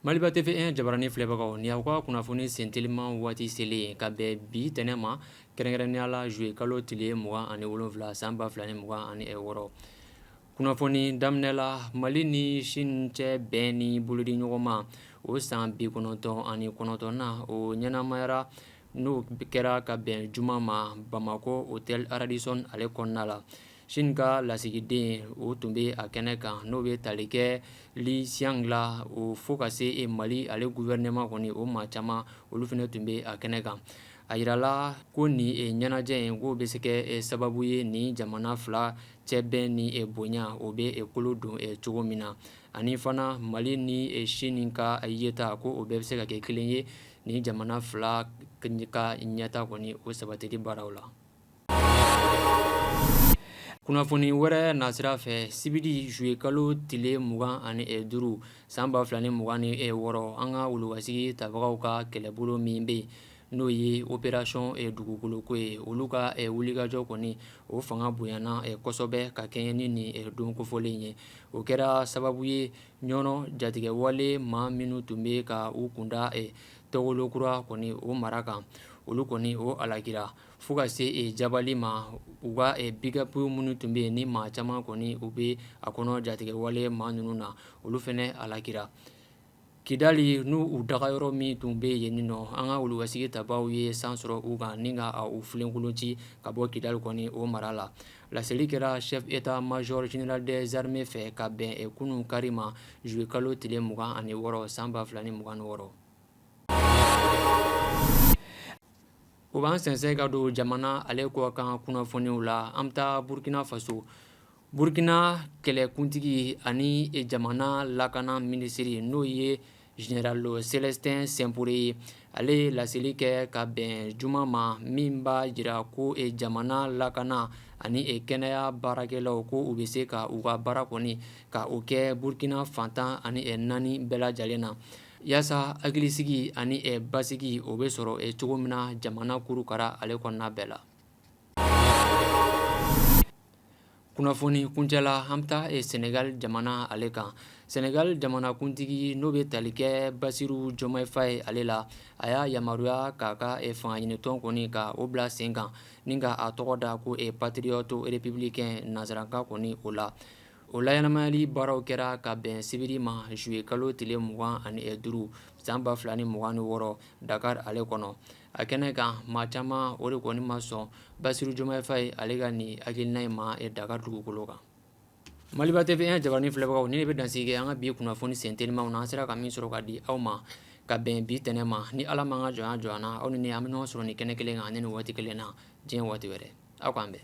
Maliba TV1 jabaranin filɛbagaw ni aw ka kunnafoni senteliman waati selen ka bɛn bi tɛnɛn ma kɛrɛnkɛrɛnnenya la zuye kalo tile mugan ani wolonfila san ba fila ni mugan ani wɔɔrɔ kunnafoni daminɛ la mali ni Chine cɛ bɛn ni bolodiɲɔgɔnma o san bi kɔnɔntɔn ani kɔnɔntɔn na o ɲɛnamayara n'o kɛra ka bɛn juma ma bamakɔ hôtel Radisson ale kɔnɔna la Chine ka lasigiden o tun bɛ a kɛnɛ kan n'o bɛ tali kɛ Li Xiang la o fo ka se e mali ale gouvernement kɔni o maa caman olu fana tun bɛ a kɛnɛ kan a yirala ko nin ɲɛnajɛ in k'o bɛ se kɛ sababu ye nin jamana fila cɛ bɛn ni e bonya o bɛ e kolo don cogo min na ani fana mali ni Chine ka yeta ko o bɛɛ bɛ se ka kɛ kelen ye ni jamana fila ka ɲɛtaa kɔni o sabatili baaraw la kunnafoni wɛrɛ nasira fɛ sibiri zuye kalo tile mugan ani duuru san ba fila ni mugan ni wɔɔrɔ an ka wulukasigi tabagaw ka kɛlɛbolo min bɛ yen n'o ye opération Dugukoloko ye olu ka wulikajɔ kɔni o fanga bonyana kosɔbɛ ka kɛɲɛ ni nin don kofɔlen ye o kɛra sababu ye Ɲɔnɔ jatigɛwale maa minnu tun bɛ ka u kunda Tɔgɔlokura kɔni o mara kan olu kɔni o halakira fo ka se jabali ma u ka pick-up minnu tun bɛ yen ni maa caman kɔni u bɛ a kɔnɔ jatigɛwale maa ninnu na olu fana halakira kidali n'u u dagayɔrɔ min tun bɛ yen nin nɔ an ka wulukasigi tabaaw ye san sɔrɔ u kan ni ka u filenkolon ci ka bɔ kidali kɔni o mara la laseli kɛra chef état major général des armées fɛ ka bɛn kunun kari ma zuye kalo tile mugan ani wɔɔrɔ san ba fila ni mugan wɔɔrɔ o b'an sɛnsɛn ka don jamana ale kɔ kan kunnafoniw la an bɛ taa burukina faso burukina kɛlɛkuntigi ani jamana lakana minisiri n'o ye général Célestin Simporé ye ale ye laseli kɛ ka bɛn juma ma min b'a jira ko jamana lakana ani kɛnɛya baarakɛlaw ko u bɛ se ka u ka baara kɔni ka o kɛ burukina fan tan ani naani bɛɛ lajɛlen na yaasa hakilisigi ani basigi o bɛ sɔrɔ cogo min na jamana kurukara ale kɔnɔna bɛɛ la kunnafoni kuncɛla an bɛ taa sɛnɛgali jamana ale kan sɛnɛgali jamanakuntigi n'o bɛ tali kɛ Bassirou Diomaye Faye ale la a y'a yamaruya k'a ka fangaɲinitɔn kɔni ka o bila sen kan ni ka a tɔgɔ da ko e patriote républicain nansarakan kɔni o la o laɲanamayali baaraw kɛra ka bɛn sibiri ma zuye kalo tile mugan ani duuru san ba fila ni mugan ni wɔɔrɔ dakari ale kɔnɔ a kɛnɛ kan maa caman o de kɔni ma sɔn basiru jomayi fayi ale ka nin hakilina in ma yen dakari dugukolo kan maliba tv jabarani filɛbagaw nin bɛ dan sigi an ka bi kunnafoni sentelimanw na an sera ka min sɔrɔ ka di aw ma ka bɛn bi tɛnɛn ma ni ala ma ka jɔn jɔ na aw ni an bɛ ɲɔgɔn sɔrɔ nin kɛnɛ kelen kan nin waati kelen na diɲɛ waati wɛrɛ aw k'an bɛn